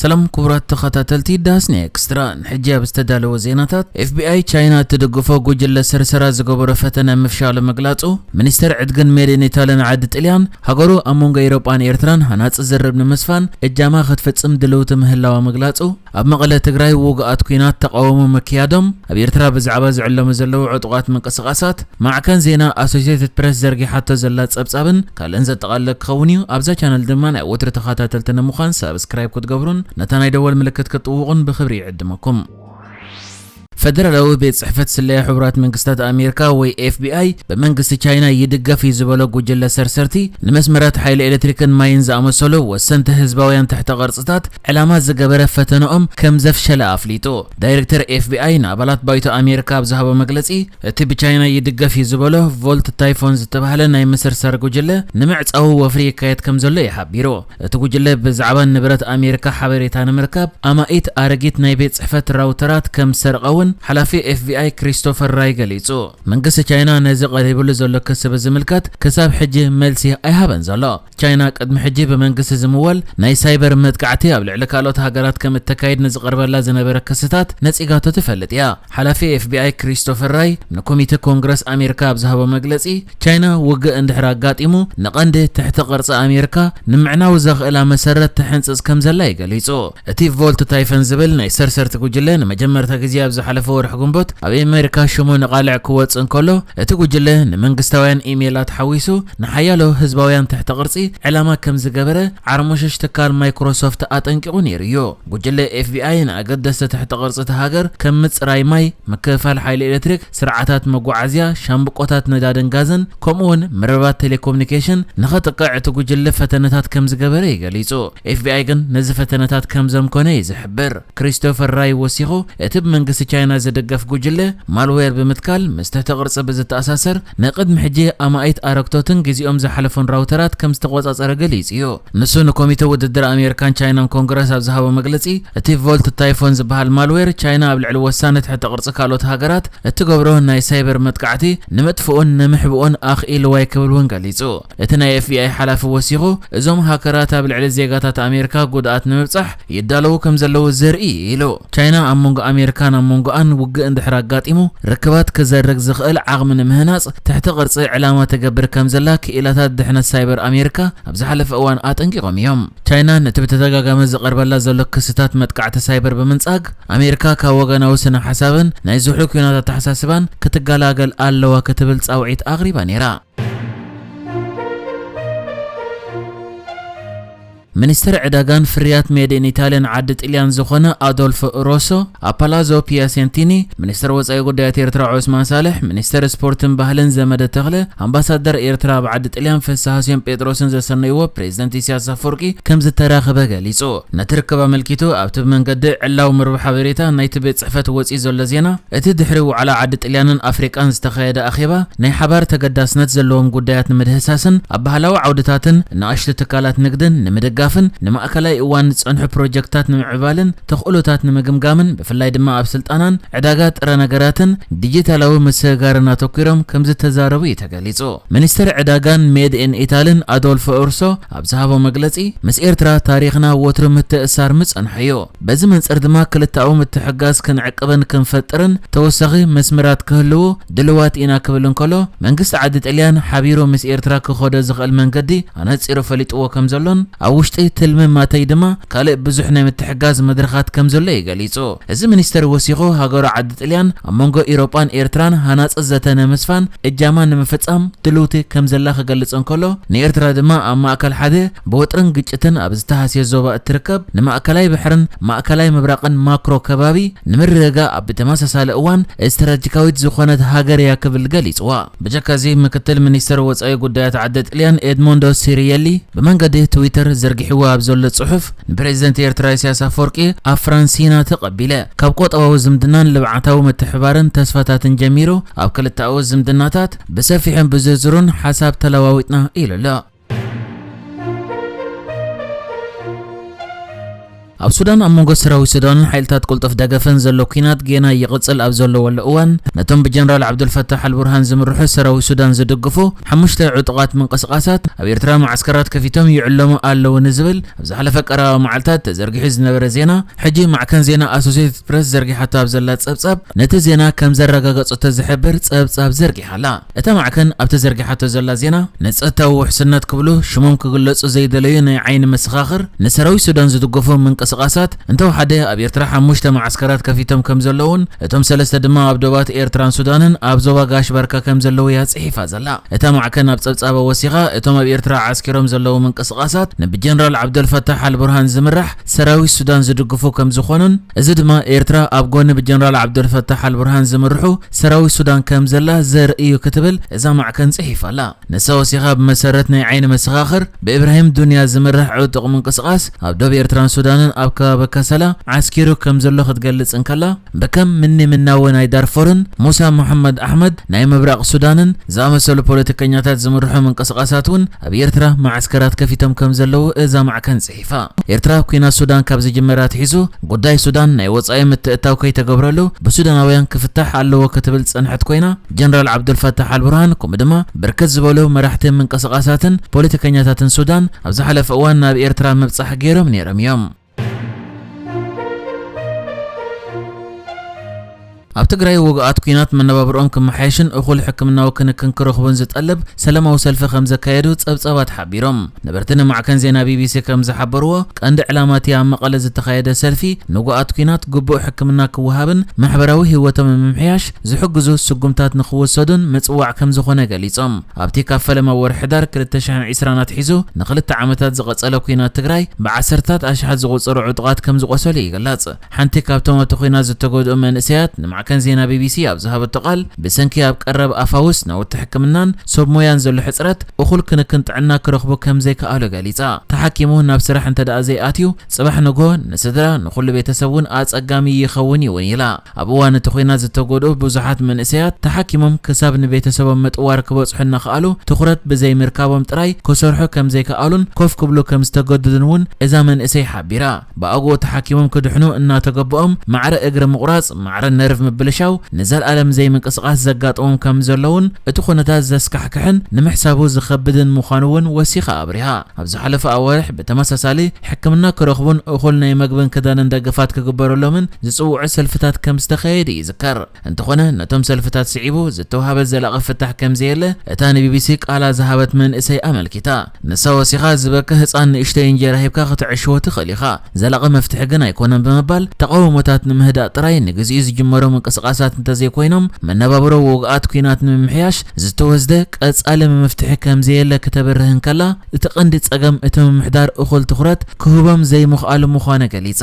ሰላም ክቡራት ተኸታተልቲ ዳስ ንኤክስትራ፣ ንሕጂ ኣብ ዝተዳለወ ዜናታት፣ ኤፍቢኣይ ቻይና እትድግፎ ጉጅለ ሰርሰራ ዝገበሮ ፈተነ ምፍሻሉ ምግላጹ፣ ሚኒስተር ዕድግን ሜድ ኢን ኢታሊ ንዓዲ ጥልያን፣ ሃገሩ ኣብ መንጎ ኤሮጳን ኤርትራን ሃናጺ ዝርርብ ንምስፋን እጃማ ክትፍጽም ድልውቲ ምህላዋ ምግላጹ፣ ኣብ መቐለ ትግራይ ውጉኣት ኲናት ተቓውሞ ምክያዶም፣ ኣብ ኤርትራ ብዛዕባ ዝዕለሙ ዘለዉ ዕጡቓት ምንቅስቓሳት ማዕከን ዜና ኣሶሴትድ ፕረስ ዘርጊሓቶ ዘላ ጸብጻብን ካልእን ዘጠቓልለ ክኸውን እዩ። ኣብዛ ቻነል ድማ ናይ ወትሪ ተኻታተልቲ ንምዃን ሳብስክራይብ ክትገብሩን ነታ ናይ ደወል ምልክት ክትጥውቑን ብኽብሪ ይዕድመኩም። ፈደራላዊ ቤት ጽሕፈት ስለያ ሕቡራት መንግስታት ኣሜሪካ ወይ ኤፍቢኣይ ብመንግስቲ ቻይና ይድገፍ እዩ ዝበሎ ጉጅለ ሰርሰርቲ ንመስመራት ሓይሊ ኤሌክትሪክን ማይን ዝኣመሰሉ ወሰንቲ ህዝባውያን ትሕተ ቅርጽታት ዕላማ ዝገበረ ፈተነኦም ከም ዘፍሸለ ኣፍሊጡ። ዳይረክተር ኤፍቢኣይ ንኣባላት ባይቶ ኣሜሪካ ኣብ ዝሃቦ መግለጺ፣ እቲ ብቻይና ይድገፍ እዩ ዝበሎ ቮልት ታይፎን ዝተባህለ ናይ ምስርሳር ጉጅለ ንምዕጻዉ ወፍሪ ይካየድ ከም ዘሎ እዩ ሓቢሩ። እቲ ጉጅለ ብዛዕባ ንብረት ኣሜሪካ ሓበሬታ ንምርካብ ኣማኢት ኣረጊት ናይ ቤት ጽሕፈት ራውተራት ከም ዝሰርቐ'ውን ሓላፊ ኤፍቢኣይ ክሪስቶፈር ራይ ገሊጹ። መንግስቲ ቻይና ነዚ ቀሪብሉ ዘሎ ክሲ ብዝምልከት ክሳብ ሕጂ መልሲ ኣይሃበን ዘሎ። ቻይና ቅድሚ ሕጂ ብመንግስቲ ዝምወል ናይ ሳይበር መጥቃዕቲ ኣብ ልዕሊ ካልኦት ሃገራት ከም እተካይድ ንዝቐርበላ ዝነበረ ክስታት ነጺጋቶ ትፈልጥ እያ። ሓላፊ ኤፍቢኣይ ክሪስቶፈር ራይ ንኮሚተ ኮንግረስ ኣሜሪካ ኣብ ዝሃቦ መግለጺ፣ ቻይና ውግእ እንድሕር ኣጋጢሙ ንቐንዲ ትሕተ ቅርጺ ኣሜሪካ ንምዕናው ዘኽእላ መሰረት ትሕንጽጽ ከም ዘላ እዩ ገሊጹ። እቲ ቮልት ታይፈን ዝብል ናይ ሰርሰርቲ ጉጅለ ንመጀመርታ ግዜ ኣብ ዝሓለፈ ወርሒ ግንቦት ኣብ ኣመሪካ ሽሙ ንቓልዕ ክወጽእ እንከሎ፣ እቲ ጉጅለ ንመንግስታውያን ኢሜላት ሓዊሱ ንሓያሎ ህዝባውያን ትሕተ ቅርጺ ዕላማ ከም ዝገበረ ዓርሞሸሽ ትካል ማይክሮሶፍት ኣጠንቂቑ ነይሩ እዩ። ጉጅለ ኤፍቢኣይ ንኣገደስቲ ትሕተ ቅርጺ እታ ሃገር ከም ምጽራይ ማይ፣ ምክፍፋል ሓይሊ ኤሌክትሪክ፣ ስርዓታት መጓዓዝያ፣ ሻምብቆታት ነዳድን ጋዝን ከምኡ'ውን መርበባት ቴሌኮምኒኬሽን ንኸጥቅዕ እቲ ጉጅለ ፈተነታት ከም ዝገበረ እዩ ገሊጹ። ኤፍቢኣይ ግን ነዚ ፈተነታት ከም ዘምከኖ እዩ ዝሕብር። ክሪስቶፈር ራይ ወሲኹ፣ እቲ ብመንግስቲ ቻይና ዝድገፍ ጉጅለ፣ ማልዌር ብምትካል ምስ ትሕተ ቅርጺ ብዝተኣሳሰር ናይ ቅድሚ ሕጂ ኣማኢት ኣረግቶትን ግዜኦም ዝሓለፎን ራውተራት ከም ዝተቖጻጸረ ገሊጹ እዩ። ንሱ ንኮሚተ ውድድር ኣሜሪካን ቻይናን ኮንግረስ ኣብ ዝሃቦ መግለጺ፣ እቲ ቮልት ታይፎን ዝበሃል ማልዌር፣ ቻይና ኣብ ልዕሊ ወሳኒ ትሕተ ቅርጺ ካልኦት ሃገራት እትገብሮ ናይ ሳይበር መጥቃዕቲ ንምጥፍኡን ንምሕብኡን ኣኽኢልዋ'ዩ ክብል'ውን ገሊጹ። እቲ ናይ ኤፍቢኣይ ሓላፊ ወሲኹ፣ እዞም ሃከራት ኣብ ልዕሊ ዜጋታት ኣሜሪካ ጉድኣት ንምብጻሕ ይዳለዉ ከም ዘለዉ ዘርኢ'ዩ ኢሉ። ቻይና ኣብ መንጎ ኣሜሪካን ኣብ መንጎኣን ውግእ እንድሕር ኣጋጢሙ ርክባት ክዘርግ ዝኽእል ዓቕሚ ንምህናጽ ትሕተ ቅርጺ ዕላማ ትገብር ከም ዘላ ክኢላታት ድሕነት ሳይበር ኣሜሪካ ኣብ ዝሓለፈ እዋን ኣጠንቂቖም እዮም። ቻይና ነቲ ብተደጋጋሚ ዝቐርበላ ዘሎ ክስታት መጥቃዕቲ ሳይበር ብምንጻግ፣ ኣሜሪካ ካብ ወገናዊ ስነ-ሓሳብን ናይ ዝሑል ኲናት ኣተሓሳስባን ክትገላገል ኣለዋ ክትብል ጻውዒት ኣቕሪባ ነይራ። ሚኒስተር ዕዳጋን ፍርያት ሜድ-ኢን-ኢታልያን ዓዲ ጥልያን ዝዀነ ኣዶልፎ ሮሶ፣ ኣብ ፓላዞ ፒያሴንቲኒ፣ ሚኒስተር ወጻኢ ጉዳያት ኤርትራ ዖስማን ሳልሕ፣ ሚኒስተር ስፖርትን ባህልን ዘመደ ተኽለ፣ ኣምባሳደር ኤርትራ ኣብ ዓዲ ጥልያን ፍስሃስዮን ጴጥሮስን ዘሰነይዎ ፕሬዚደንት ኢሳያስ ኣፍወርቂ ከምዝተራኽበ ገሊጹ። ነቲ ርክብ ኣመልኪቱ ኣብቲ ብመንገዲ ዕላዊ መርበብ ሓበሬታ ናይቲ ቤት ጽሕፈት ወጺኡ ዘሎ ዜና፣ እቲ ድሕሪ ዋዕላ ዓዲ ጥልያንን ኣፍሪቃን ዝተኻየደ ኣኼባ፣ ናይ ሓባር ተገዳስነት ዘለዎም ጉዳያት ንምድህሳስን ኣብ ባህላዊ ዓውድታትን ንኣሽቱ ትካላት ንግድን ንምድጋፍን ንማእከላይ እዋን ዝጸንሑ ፕሮጀክትታት ንምዕባልን ተኽእሎታት ንምግምጋምን ብፍላይ ድማ ኣብ ስልጣናን ዕዳጋ ጥረ ነገራትን ዲጂታላዊ ምስግጋርን ኣተኲሮም ከምዝተዛረቡ እዩ ተገሊጹ። ሚኒስተር ዕዳጋን ሜድ ኢን ኢታልን ኣዶልፎ ኡርሶ ኣብ ዝሃቦ መግለጺ፣ ምስ ኤርትራ ታሪኽና ወትሩ ምትእስሳር ምጸንሖ እዩ። በዚ መንጽር ድማ ክልተኣዊ ምትሕግጋዝ ክንዕቅብን ክንፈጥርን ተወሳኺ መስመራት ክህልዉ፣ ድልዋት ኢና ክብል እንከሎ፣ መንግስቲ ዓዲ ጥልያን ሓቢሩ ምስ ኤርትራ ክኸዶ ዝኽእል መንገዲ ኣነጺሩ ፈሊጥዎ ከም ዘሎን ኣብ ውሽጢ ትልሚ ማተይ ድማ ካልእ ብዙሕ ናይ ምትሕጋዝ መድረኻት ከም ዘሎ እዩ ገሊጹ። እዚ ሚኒስተር ወሲኹ ሃገሩ ዓዲ ጥልያን ኣብ መንጎ ኢሮጳን ኤርትራን ሃናጺ ዘተ ንምስፋን እጃማ ንምፍጻም ድልውቲ ከም ዘላ ክገልጽ እንከሎ፣ ንኤርትራ ድማ ኣብ ማእከል ሓደ ብወጥርን ግጭትን ኣብ ዝተሃስየ ዞባ እትርከብ ንማእከላይ ባሕርን ማእከላይ ምብራቕን ማክሮ ከባቢ ንምርግጋእ ብተመሳሳሊ እዋን ስትራጂካዊት ዝኾነት ሃገር እያ ክብል ገሊጽዋ። ብጀካ እዚ ምክትል ሚኒስተር ወጻኢ ጉዳያት ዓዲ ጥልያን ኤድሞንዶ ሲሪየሊ ብመንገዲ ትዊተር ዘርጊሕዎ ኣብ ዘሎ ጽሑፍ ንፕረዚደንት ኤርትራ ኢሳያስ ኣፈወርቂ ኣብ ፍራንሲና ተቐቢለ ካብ ቆጠባዊ ዝምድናን ልብዓታዊ ምትሕብባርን ተስፋታትን ጀሚሩ ኣብ ክልተኣዊ ዝምድናታት ብሰፊሑን ብዝርዝሩን ሓሳብ ተለዋዊጥና ኢሉ ኣሎ። ኣብ ሱዳን ኣብ መንጎ ሰራዊት ሱዳንን ሓይልታት ቅልጡፍ ደገፍን ዘሎ ኲናት ጌና ይቕጽል ኣብ ዘለወሉ እዋን ነቶም ብጀነራል ዓብዱልፈታሕ ኣልቡርሃን ዝምርሑ ሰራዊት ሱዳን ዝድግፉ ሓሙሽተ ዕጡቓት ምንቅስቓሳት ኣብ ኤርትራ ማዓስከራት ከፊቶም ይዕለሙ ኣለዉ ንዝብል ኣብ ዝሓለፈ ቀረባ መዓልታት ተዘርጊሑ ዝነበረ ዜና ሕጂ ማዕከን ዜና ኣሶሴትድ ፕረስ ዘርጊሓቶ ኣብ ዘላ ጸብጻብ ነቲ ዜና ከም ዘረጋገጸቶ ዝሕብር ጸብጻብ ዘርጊሓ ኣላ። እታ ማዕከን ኣብቲ ዘርጊሓቶ ዘላ ዜና፣ ንጸጥታዊ ውሕስነት ክብሉ ሽሞም ክግለጹ ዘይደለዩ ናይ ዓይኒ መሰኻኽር፣ ንሰራዊት ሱዳን ዝድገፉ ምንቅስቓሳት፣ እንተወሓደ ኣብ ኤርትራ ሓሙሽተ መዓስከራት ከፊቶም ከምዘለዉን እቶም ሰለስተ ድማ ኣብ ዶባት ኤርትራን ሱዳንን ኣብ ዞባ ጋሽ ባርካ ከምዘለዉ'ያ ጽሒፋ ዘላ እታ ማዕከን ኣብ ጸብጻባ ወሲኻ። እቶም ኣብ ኤርትራ ዓስኪሮም ዘለዉ ምንቅስቓሳት፣ ንብጀነራል ዓብደልፋታሕ ኣልቡርሃን ዝምራሕ ሰራዊት ሱዳን ዝድግፉ ከምዝኾኑን እዚ ድማ ኤርትራ ኣብ ጎኒ ብጀነራል ዓብደልፈታሕ ኣልቡርሃን ዝምርሑ ሰራዊት ሱዳን ከምዘላ ዘርኢ እዩ ክትብል እዛ ማዕከን ጽሒፋ ኣላ። ንሳ ወሲኻ ብመሰረት ናይ ዓይኒ መሰኻኽር ብኢብራሂም ዱንያ ዝምራሕ ዕጡቕ ምንቅስቓስ ኣብ ዶብ ኤርትራን ሱዳንን ኣብ ከባቢ ከሰላ ዓስኪሩ ከምዘሎ ክትገልጽ እንከላ ብከም ምኒ ምናዊ ናይ ዳርፎርን ሙሳ መሓመድ ኣሕመድ ናይ ምብራቕ ሱዳንን ዝኣመሰሉ ፖለቲከኛታት ዝምርሑ ምንቅስቓሳት እውን ኣብ ኤርትራ መዓስከራት ከፊቶም ከምዘለዉ እዛ ማዕከን ፊፋ፣ ኤርትራ ኲናት ሱዳን ካብ ዝጅምር ኣትሒዙ ጉዳይ ሱዳን ናይ ወጻኢ ምትእትታው ከይተገብረሉ ብሱዳናውያን ክፍታሕ ኣለዎ ክትብል ዝጸንሐት ኮይና፣ ጀነራል ዓብዱልፋታሕ ኣልቡርሃን ከምኡ ድማ ብርክት ዝበሉ መራሕቲ ምንቅስቓሳትን ፖለቲከኛታትን ሱዳን ኣብ ዝሓለፈ እዋን ናብ ኤርትራ ምብጻሕ ገይሮም ነይሮም እዮም። ኣብ ትግራይ ውግኣት ኲናት መነባብርኦም ክመሓየሽን እኹል ሕክምናዊ ክንክን ክረኽቡን ዝጠልብ ሰለማዊ ሰልፊ ከምዘካየዱ ጸብጻባት ሓቢሮም። ነበርቲ ንማዕከን ዜና ቢቢሲ ከምዝሓበርዎ፣ ቀንዲ ዕላማ'ቲ ኣብ መቐለ ዝተኻየደ ሰልፊ፣ ንውጉኣት ኲናት ግቡእ ሕክምና ክወሃብን ማሕበራዊ ህይወቶም ንምምሕያሽ ዝሕግዙ ስጉምታት ንኽውሰዱን ምጽዋዕ ከምዝኾነ ገሊጾም። ኣብ'ቲ ካብ ፈለማ ወርሒ ሕዳር ክልተ ሽሕን ዕስራን ኣትሒዙ ንኽልተ ዓመታት ዝቐጸለ ኲናት ትግራይ፣ ብዓሰርተታት ኣሽሓት ዝቑጸሩ ዕጡቓት ከምዝቖሰሉ ይግለጽ። ሓንቲ ካብቶም ኣብቲ ኲናት ዝተጎድኡ መንእሰያት ንማዕከን ዜና ቢቢሲ ኣብ ዝሃበቶ ቃል፣ ብሰንኪ ኣብ ቀረብ ኣብ ፋውስ ናውቲ ሕክምናን ሶብ ሞያን ዘሎ ሕጽረት፣ እኹል ክንክን ጥዕና ክረኽቡ ከም ዘይከኣሉ ገሊጻ። ተሓኪሙ ናብ ስራሕ እንተድኣ ዘይኣትዩ፣ ጽባሕ ንግሆ ንስድራ፣ ንኹሉ ቤተሰብ እውን ኣጸጋሚ ይኸውን እዩ እውን ኢላ። ኣብ እዋን እቲ ኲናት ዝተጎድኡ ብዙሓት መንእሰያት፣ ተሓኪሞም ክሳብ ንቤተሰቦም ምጥዋር ክበጽሑ እናኸኣሉ፣ ትኹረት ብዘይምርካቦም ጥራይ ክሰርሑ ከም ዘይከኣሉን ኮፍ ክብሉ ከም ዝተገድዱን እውን እዛ መንእሰይ ሓቢራ። ብኣግኡ ተሓኪሞም ክድሕኑ እናተገበኦም ማዕረ እግሪ ምቑራጽ፣ ማዕረ ነርቭ ምብልሻው፣ ንዘልኣለም ዘይምንቅስቓስ ዘጋጥሞም ከም ዘሎ'ውን እቲ ኩነታት ዘስካሕክሕን ንምሕሳቡ ዝኸብድን ምዃኑ'ውን ወሲኻ ኣብሪሃ። ኣብ ዝሓለፈ ኣዋርሕ ብተመሳሳሊ፣ ሕክምና ክረኽቡን እኹል ናይ መግብን ክዳንን ደገፋት ክግበረሎምን ዝጽውዑ ሰልፍታት ከም ዝተኻየዱ ይዝከር። እንተኾነ ነቶም ሰልፍታት ስዒቡ ዝተውሃበ ዘላቒ ፍታሕ ከምዘየለ እታ ንቢቢሲ ቃላ ዝሃበት መንእሰይ ኣመልኪታ። ንሳ ወሲኻ ዝበከ ህጻን ንእሽተይ እንጀራ ሂብካ ከተዕሽዎ ትኽእል ኢኻ፣ ዘላቒ መፍትሒ ግን ኣይኮነን ብምባል ተቓውሞታት ንምህዳእ ጥራይ ንግዚኡ ዝጅመሩ ምንቅስቓሳት እንተዘይኮይኖም መነባብሮ ውጉኣት ኲናት ንምምሕያሽ ዝተወስደ ቀጻሊ ምምፍትሒ ከምዘየለ ክተብርህ እንከላ እቲ ቀንዲ ጸገም እቲ ምምሕዳር እኹል ትኹረት ክህቦም ዘይምኽኣሉ ምዃኑ ገሊጻ።